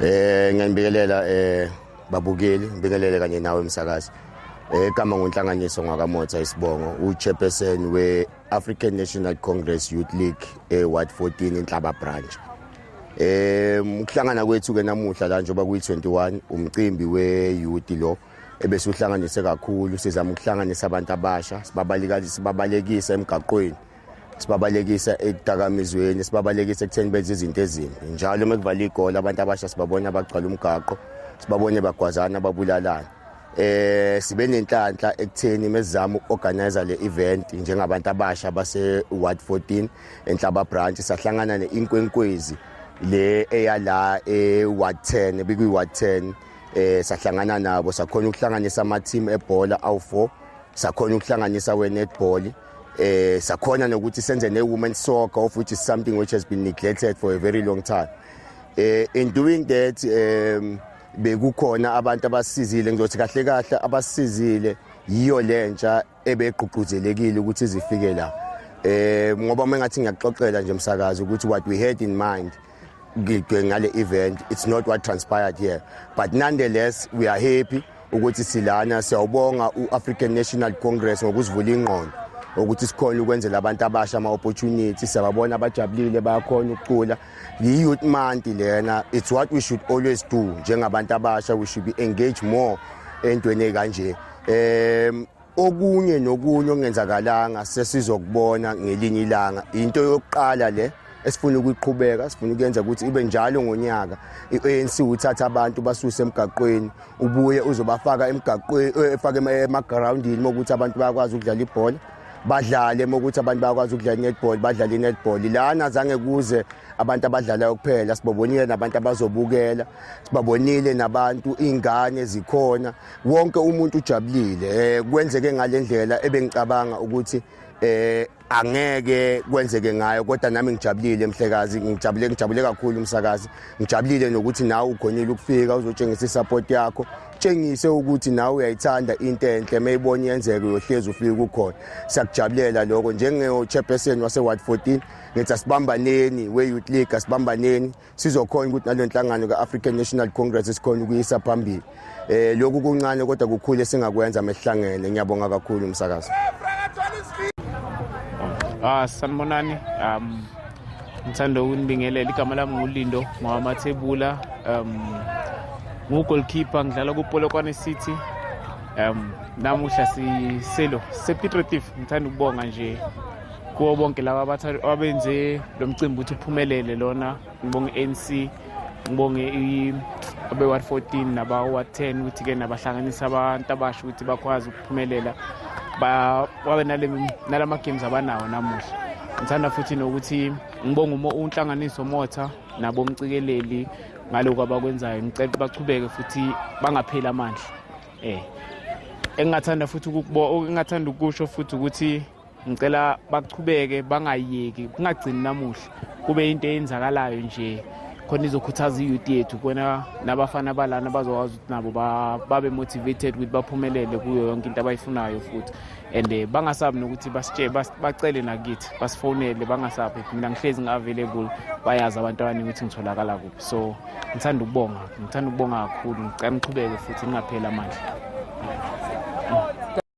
Eh ngiyanibikelela eh babukeli, ngibingelele kanye nawe msakazi. Egama eh, ngonhlanganiso ngwakamotha isibongo uchairperson we-African National Congress Youth League e-Ward 14 inhlaba branch. Eh ukuhlangana kwethu ke namuhla la njengoba kuyi-21 umcimbi we-youth lo ebese uhlanganise kakhulu sizama ukuhlanganisa abantu abasha sibabalekisa emgaqweni sibabalekisa ekudakamizweni sibabalekisa ekutheni benze izinto ezimbi njalo uma kuvala igoli abantu abasha sibabona bagcwala umgaqo sibabone bagwazana babulalana eh sibe nenhlanhla ekutheni mesizama uorganizer le event njengabantu abasha base ward 14 enhlaba branch sahlangana neinkwenkwezi le eyala e ward 10 bikwi ward 10 eh sahlangana nabo sakhona ukuhlanganisa ama team ebhola awu4 sakhona ukuhlanganisa we netball eh sakhona nokuthi senze ne women soccer of which is something which has been neglected for a very long time eh in doing that um bekukhona abantu abasizile ngizothi kahle kahle abasizile yiyo lentsha ebegqugquzelekile ukuthi zifike la eh ngoba mengathi ngiyaxoxela nje umsakazi ukuthi what we had in mind ngidwe ngale event it's not what transpired here but nonetheless we are happy ukuthi silana siyawubonga u-african national congress ngokusivula ingqondo ukuthi sikhona ukwenzela abantu abasha ama-opportunity siyababona abajabulile bayakhona ukucula yi-youth month lena it's what we should always do njengabantu abasha we should be engage more entweni ekanje um okunye nokunye okungenzakalanga sesizokubona ngelinye ilanga into yokuqala le esifuna ukuyiqhubeka sifuna ukuyenza ukuthi ibe njalo ngonyaka i-ANC uthatha abantu basuse emgaqweni ubuye uzobafaka emgaqweni eh, efake emagroundini mokuthi abantu bayakwazi ukudlala ibhola badlale mokuthi abantu bayakwazi ukudlala i-netball badlale i-netball lana zange kuze abantu abadlalayo kuphela sibabonile nabantu abazobukela sibabonile nabantu iy'ngane zikhona wonke umuntu ujabulile eh, kwenzeke ngalendlela ebengicabanga ukuthi eh angeke kwenzeke ngayo kodwa nami ngijabulile mhlekazi ngijabule ngijabule kakhulu umsakazi ngijabulile nokuthi nawe ugonile ukufika uzotshengisa isupport yakho tshengise ukuthi nawe uyayithanda into enhle mayibona yenzeke uyohlezi ufike kukhona siyakujabulela lokho njengechairperson wase-ward 14 ngithi asibambaneni we-youth league asibambaneni sizokhona ukuthi nale nhlangano ka-african national congress sikhona ukuyisa phambili um lokhu kuncane kodwa kukhulu esingakwenza mesihlangene ngiyabonga kakhulu umsakazo ah sanibonani um ngithanda ukunibingelela igama lami ngulindo ngwamathebula um ngugolkeeper ngidlala kupolokwane city um namuhla siselo sepitrotif ngithanda ukubonga nje kuwo bonke laba abathathu abenze lo mcimbi ukuthi uphumelele lona ngibonge i-anc ngibonge abe-ward 14 naba-ward 10 ukuthi-ke nabahlanganisa abantu abasho ukuthi bakwazi ukuphumelela babe nala ma-games abanawo namuhla ngithanda futhi nokuthi ngibonge unhlanganiso motha nabo mcikeleli ngaloku abakwenzayo ngicela ukuthi bachubeke futhi bangapheli amandla um engingathanda futhi engingathanda ukusho futhi ukuthi ngicela baqhubeke bangayeki kungagcini namuhla kube into eyenzakalayo nje khona izokhuthaza i-youth yethu kona nabafana balana bazokwazi ukuthi nabo babe motivated ukuthi baphumelele kuyo yonke into abayifunayo futhi and eh, bangasabi nokuthi basitshele bacele nakithi basifonele bangasabi mina ngihlezi ngi-available bayazi abantu abaningi ukuthi ngitholakala kuphi so ngithanda ukubonga ngithanda ukubonga kakhulu ngicela ngiqhubeke futhi ngingapheli amandla